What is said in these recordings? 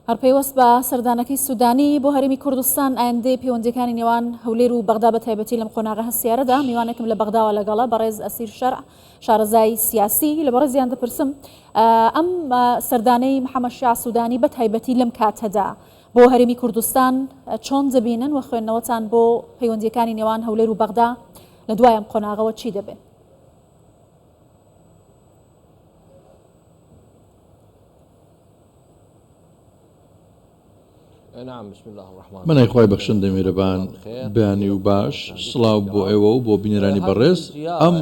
هەر پەیوەست بە سەردانەکەی سوودانی بۆ هەرێمی کوردستان، ئایندەی پەیوەندییەکانی نێوان هەولێر و بەغدا بەتایبەتی لەم قۆناغە هەستیارەدا، میوانێکم لە بەغداوە لەگەڵە بەڕێز ئەسیر شەرع، شارەزای سیاسی، لە بەڕێزیان دەپرسم ئەم سەردانەی محەمەد شیاع سوودانی بەتایبەتی لەم کاتەدا بۆ هەرێمی کوردستان چۆن دەبینن و خوێندنەوەتان بۆ پەیوەندییەکانی نێوان هەولێر و بەغدا لە دوای ئەم قۆناغەوە چی دەبێت؟ من ئەی خوای بەخشندەی میرەبان بەیانی و باش سڵاو بۆ ئێوە و بۆ بینەرانی بەڕێز ئەم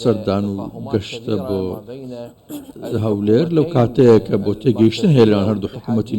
سەردان و گەشتە بۆ هەولێر لەو کاتەیە کە بۆ تێگەیشتن هەیە لەنێوان هەردوو حکوومەتی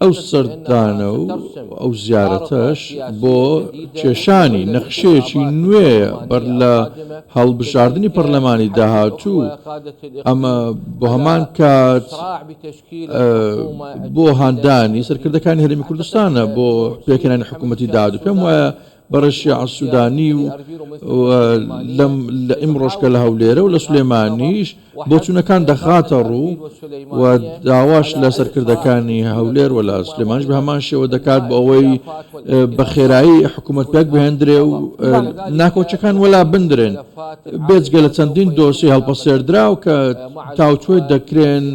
ئەو سەردانە و ئەو زیارەتەش بۆ کێشانی نەخشەیەکی نوێیە بەر لە هەڵبژاردنی پەرلەمانی داهاتوو، ئەمە بۆ هەمان کات بۆ هاندانی سەرکردەکانی هەرێمی کوردستانە بۆ پێکهێنانی حکوومەتی داهاتوو، پێم وایە بەڕێز شیاع سودانی و ئیمڕۆش کە لە هەولێرە و لە سلێمانیش بۆچوونەکان دەخاتە ڕوو و داواش لە سەرکردەکانی هەولێر و لە سلێمانش بە هەمان شێوە دەکات بۆ ئەوەی بە خێرایی حکوومەت پێک بهێندرێ و ناکۆچەکان وەلا بندرێن بێجگە لە چەندین دۆسی هەڵپەسێردراو کە تاوتوێ دەکرێن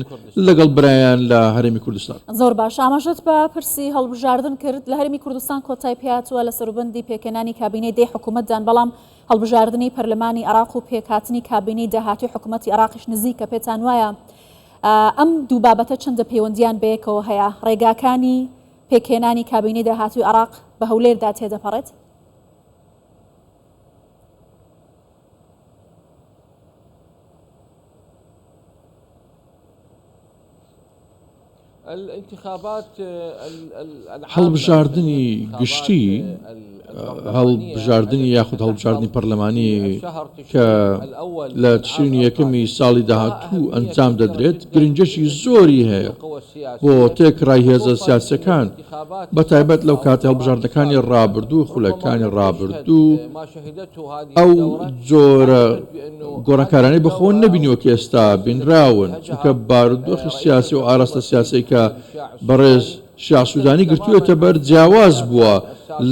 لەگەڵ برایان لە هەرێمی کوردستان. زۆر باش ئاماژەت بە پرسی هەڵبژاردن کرد، لە هەرێمی کوردستان کۆتای پێهاتووە لە سەروبەندی پێکهێنانی کابینەی دەی حکوومەتدان، بەڵام هەڵبژاردنی پەرلەمانی عێراق و پێکهاتنی کابینەی داهاتووی حکوومەتی عێراقیش نزیکە، پێتان وایە ئەم دوو بابەتە چەندە پەیوەندییان بەیەکەوە هەیە؟ ڕێگاکانی پێکهێنانی کابینەی داهاتووی عێراق بە هەولێردا تێدەپەڕێت؟ هەڵبژاردنی گشتی هەڵبژاردننی یاخود هەڵبژاردننی پەرلەمانی کە لە تشرینی یەکەمی ساڵی داهاتوو ئەنجام دەدرێت گرنجەشی زۆری هەیە بۆ تێکڕای هێزە سیاسەکان بە تایبەت لەو کاتەی هەڵبژاردنەکانی ڕابردوو و خولەکانی ڕابردوو ئەو جۆرە گۆڕانکارانەی بە خۆ نەبینیوە کە ئێستا بینراون، چونکە بارودۆخی سیاسی و ئاراستە سیاسیەی کە بەڕێز شیاع سوودانی گرتوویەتە بەر جیاواز بووە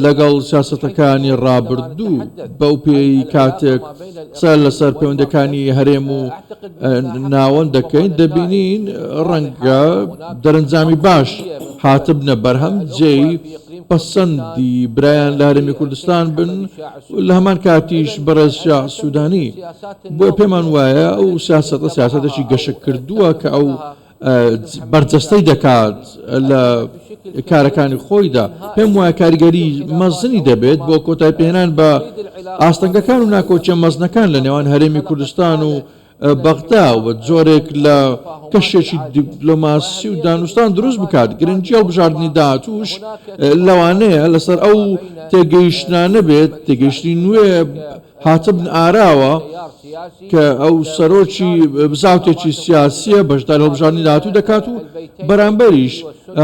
لەگەڵ سیاسەتەکانی ڕابردوو، بەو پێیەی کاتێک قسە لەسەر پەیوەندیەکانی هەرێم و ناوەند دەکەین دەبینین ڕەنگە دەرەنجامی باش. هاتبنە بەرهەم جێی پەسەندی برایان لە هەرێمی کوردستان بن و لە هەمان کاتیش بەڕێز شیاع سوودانی بۆ پێمان وایە ئەو سیاسەتە سیاسەتێکی گەشەکردووە کە ئەو بەرجەستەی دەکات لە کارەکانی خۆیدا پێم وایە کاریگەری مەزنی دەبێت بۆ کۆتایپێنان بە ئاستەنگەکان و ناکۆکیە مەزنەکان لە نێوان هەرێمی کوردستان و بەغدا و جۆرێک لە کەشێکی دیپلۆماسی و دانوستان دروست بکات گرنگی هەڵبژاردنی داهاتوش لەوانەیە لەسەر ئەو تێگەیشتنانە بێت تێگەیشتنی نوێ هاتبن ئاراوە کە ئەو سەرۆکی بزاوتێکی سیاسیە بەشدار هەڵبژاردنی داهاتوو دەکات و بەرامبەریش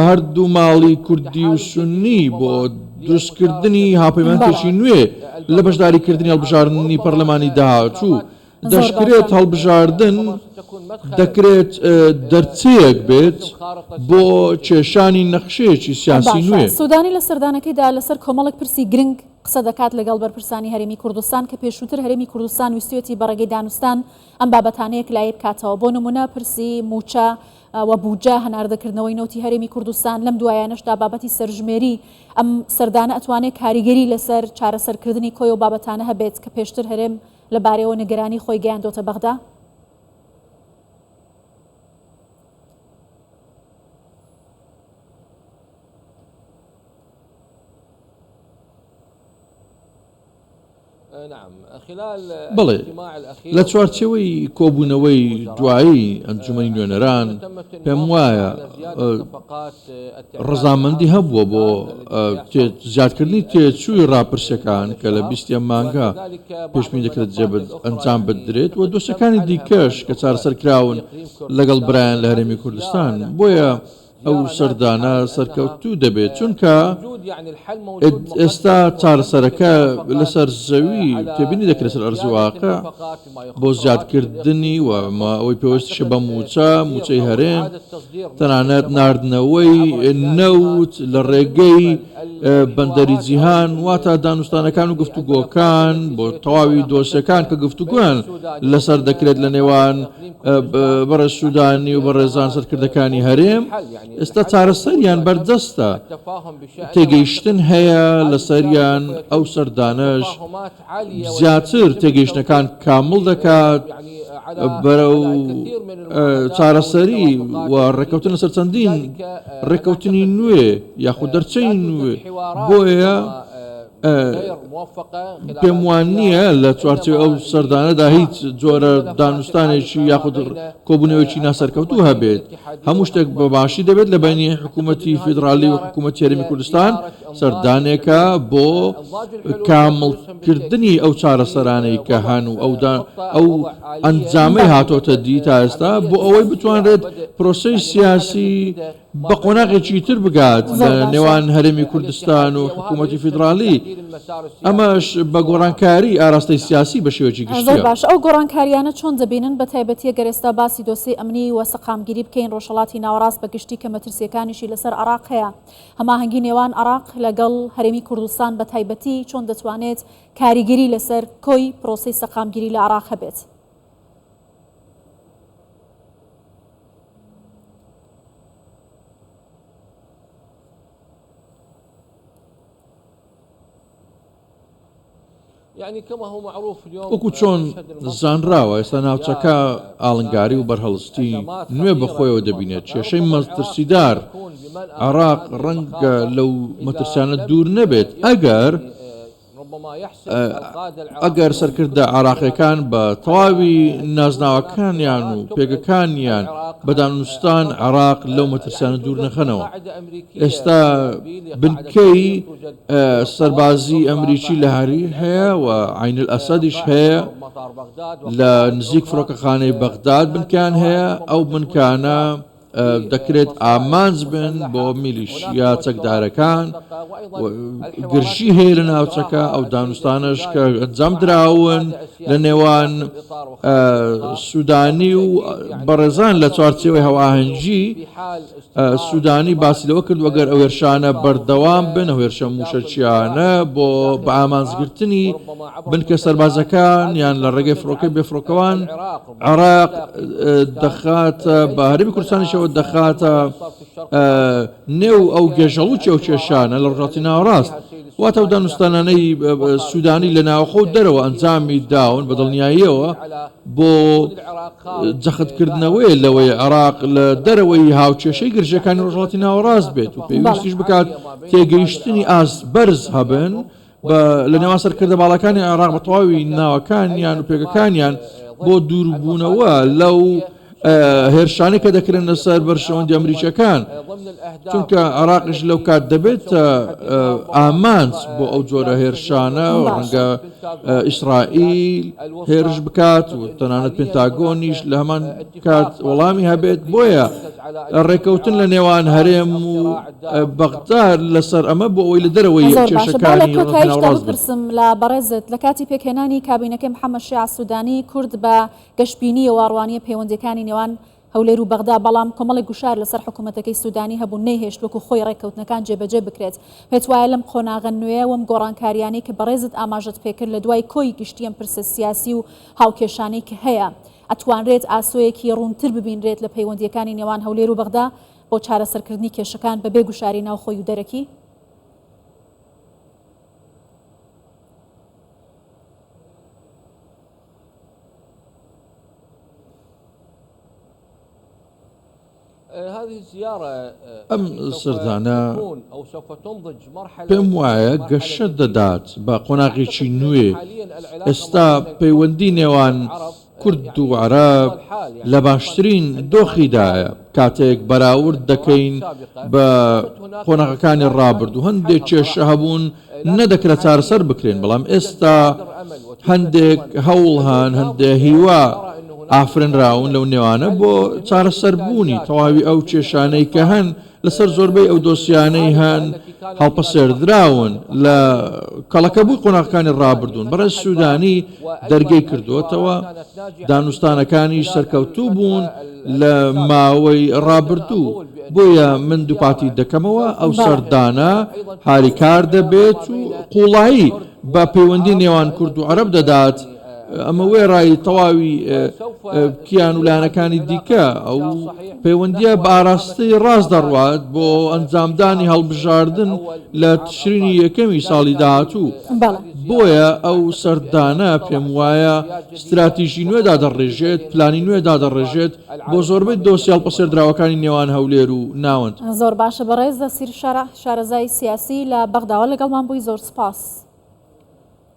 هەردوو ماڵی کوردی و سنی بۆ دروستکردنی هاپەیمانێکی نوێ لە بەشداریکردنی هەڵبژاردنی پەرلەمانی داهاتوو دەشکرێت هەڵبژاردن دەکرێت دەرچەیەک بێت بۆ کێشانی نەخشەیەکی سیاسی نوێ. سودانی لە سەردانەکەیدا لەسەر کۆمەڵێک پرسی گرنگ قسە دەکات لەگەڵ بەرپرسانی هەرێمی کوردستان کە پێشووتر هەرێمی کوردستان ویستویەتی بە ڕێگەی دانوستان ئەم بابەتانە یەکلایی بکاتەوە بۆ نمونە پرسی موچە و بودجە هەناردەکردنەوەی نەوتی هەرێمی کوردستان لەم دوایانەشدا بابەتی سەرژمێری ئەم سەردانە ئەتوانێت کاریگەری لەسەر چارەسەرکردنی کۆی ئەو بابەتانە هەبێت کە پێشتر هەرێم لەبارەیەوە نیگەرانی خۆی گەیاندۆتە بەغدا. بەڵێ، لە چوارچێوەی کۆبوونەوەی دوایی ئەنجومەنی نوێنەران، پێموایە ڕەزامەندی هەبووە بۆ زیادکردنی تێچووی ڕاپرسییەکان کە لە بیست ە مانگە پێشبینی دەکرێت ئەنجام بدرێت و دۆسیەکانی دیکەش کە چارەسەر کراون لەگەڵ برایان لە هەرێمی کوردستان، بۆیە ئەو سەردانە سەرکەوتوو دەبێت، چونکە ئێستا چارەسەرەکە لەسەر زەوی تێبینی دەکرێت لەسەر ئەرزی واقع. بۆ زیادکردنی و ئەوەی پێوستیشە بە مووچە، مووچەی هەرێم، تەنانەت ناردنەوەی نەوت لە ڕێگەی بەندەری جیهان، واتە دانوستانەکان و گفتوگۆکان بۆ تەواوی دۆسیەکان کە گفتوگۆیان لەسەر دەکرێت لە نێوان بەڕێز سوودانی و بەڕێزان سەرکردەکانی هەرێم، ئێستا چارەسەریان بەردەستە، تێگەیشتن هەیە لەسەریان، ئەو سەردانەش زیاتر تێگەیشتنەکان کامڵ دەکات بەرەو چارەسەری و ڕێککەوتن لەسەر چەندین ڕێککەوتنی نوێ یاخود دەرچەی نوێ بۆیە پێم وان نییە لە چوارچێ ئەو سەردانەدا هیچ جۆرە دانوستانێکی یاخود کۆبوونەوەکی ناسەرکەوتوو هەبێت هەموو شتێک بە باشی دەبێت لە بینی حکوومەتتی فیدراالی و حکوومەت تێرمی کوردستان سەردانێکە بۆ کامڵکردنی ئەو چارەسەرانەی کە هەن و ئەو ئەنجامەی هاتۆتە دی تا ئێستا بۆ ئەوەی بتوانرێت پرۆسەی سیاسی بە قۆناغێکی تر بگات لە نێوان هەرێمی کوردستان و حکوومەتی فیدراالی ئەمەش بە گۆڕانکاری ئاراستەی سیاسی بە شێوەکی گشت باش ئەو گۆڕانکاریانە چۆن دەبینن بە تایبەتە گەرێستا باسی دۆسی ئەمنی وە سەقامگیری بکەین ڕۆژهڵاتی ناوەڕاست بە گشتی کە مەترسیەکانیشی لەسەر عراق هەیە هەماهەنگی نێوان عێراق لەگەڵ هەرێمی کوردستان بە تایبەتی چۆن دەتوانێت کاریگەری لەسەر کۆی پرۆسەی سەقامگیری لە عێراق هەبێت؟ وەکو چۆن زانراوە ئێستا ناوچەکە ئاڵنگاری و بەرهەڵستی نوێ بەخۆیەوە دەبینێت، کێشەی مەترسیدار عێراق ڕەنگە لەو مەترسیانە دوور نەبێت ئەگەر ئەگەر سەرکردە عێراقییەکان بە تەواوی نازناوەکانیان و پێگەکانیان بە دانوستان عێراق لەو مەترسیانە دوور نەخەنەوە ئێستا بنکەی سەربازی ئەمریکی لە هەریر هەیە و عین ئەسەدیش هەیە لە نزیک فڕۆکەخانەی بەغداد بنکان هەیە ئەو بنکانە دەکرێت ئامانج بن بۆ میلیشیا چەکدارەکان گرژی هەیە لە ناوچەکە ئەو دانوستانش کە ئەنجام دراون لە نێوان سوودانی و بەڕێزان لە چوارچەوەی هەواهەنگی سوودانی باسی لەوە کردووە، گەر ئەو هێرشانە بەردەوام بن، ئەو هێرشە مووشەکییانە بۆ بە ئامانجگرتنی بنکە سەربازەکان یان لە ڕێگەی فڕۆکەی بێفڕۆکەوان عێراق دەخاتە بە هەرێمی کوردستانیشەوە دەخاتە نێو ئەو گێژەڵووکی ئەو کێشانە لە ڕۆژهەڵاتی ناوەڕاست واتە ئەو دانوستانانەی سوودانی لە ناوخۆ و دەرەوە ئەنجامی داون بە دڵنیاییەوە بۆ جەخت کردنەوەیە لەوەی عێراق لە دەرەوەی هاوکێشەی گرژیەکانی ڕۆژهەڵاتی ناوەڕاست بێت و پێویستیش بکات تێگەیشتنی ئاست بەرز هەبن لە نێوان سەرکردە باڵەکانی عێراق بە تەواوی ناوەکانیان و پێگەکانیان بۆ دووربوونەوە لەو هێرشانە کە دەکرێنە سەر بەرژەوەندی ئەمریکیەکان چونکە عراقش لەو کات دەبێت ئامانج بۆ ئەو جۆرە هێرشانە ڕەنگە ئیسرائیل هێرش بکات و تەنانەت پنتاگۆنیش لە هەمان کات وەڵامی هەبێت بۆیە ڕێکەوتن لە نێوان هەرێم و بەغدار لەسەر ئەمە بۆ ئەوی لە دەرەوەی کێشەکانی ڕاست بپرسم لە بەڕێزت لە کاتی پێکهێنانی کابینەکەی محەممەد شیع سوودانی کورد بە گەشبینی واڕوانیە پەیوەندیەکانی نێوان هەولێر و بەغدا، بەڵام کۆمەڵێک گوشار لەسەر حکومەتەکەی سودانی هەبوون نەیهێشت وەکو خۆی ڕێککەوتنەکان جێبەجێ بکرێت. پێتوایە لەم قۆناغە نوێیە وەم گۆڕانکاریانەی کە بەڕێزت ئاماژەت پێکرد لەدوای کۆی گشتی ئەم پرسە سیاسی و هاوکێشانەی کە هەیە ئەتوانرێت ئاسۆیەکی ڕوونتر ببینرێت لە پەیوەندیەکانی نێوان هەولێر و بەغدا بۆ چارەسەرکردنی کێشەکان بەبێ گوشاری ناوخۆی و دەرەکی؟ ئەم سردانە پێم وایە گەشە دەدات بە قۆناغێکی نوێ ئێستا پەیوەندی نێوان کورد و عەرەب لە باشترین دۆخیدایە کاتێک بەراورد دەکەین بە قۆناغەکانی ڕابردوو هەندێک کێشە هەبوون نەدەکرا چارەسەر بکرێن، بەڵام ئێستا هەندێک هەوڵ هەن، هەندێک هیوا ئافرێنراون، لەو نێوانە بۆ چارەسەربوونی تەواوی ئەو کێشانەی کە هەن، لەسەر زۆربەی ئەو دۆسیانەی هەن هەڵپەسێردراون لە کەڵەکەبووی قۆناغەکانی ڕابردوون. بەڕێز سوودانی. دەرگەی کردووەتەوە، دانوستانەکانیش سەرکەوتوو بوون لە ماوەی ڕابردوو، بۆیە من دووپاتی دەکەمەوە ئەو سەردانە هاریکار دەبێت و قووڵایی بە پەیوەندی نێوان کورد و عەرەب دەدات، ئەمە وێڕای تەواوی کیان و لایەنەکانی دیکە، ئەو پەیوەندییە بە ئاراستەی ڕاست دەڕوات بۆ ئەنجامدانی هەڵبژاردن لە تشرینی یەکەمی ساڵی داهاتوو. بۆیە ئەو سەردانە پێم وایە ستراتیژی نوێ دادەڕێژێت، پلانی نوێ دادەڕێژێت بۆ زۆربەی دۆسیە هەڵپەسێردراوەکانی نێوان هەولێر و ناوەند. زۆر باشە بەڕێز نەسیر شەرع شارەزای سیاسی لە بەغداوە لەگەڵمان بووی زۆر سوپاس.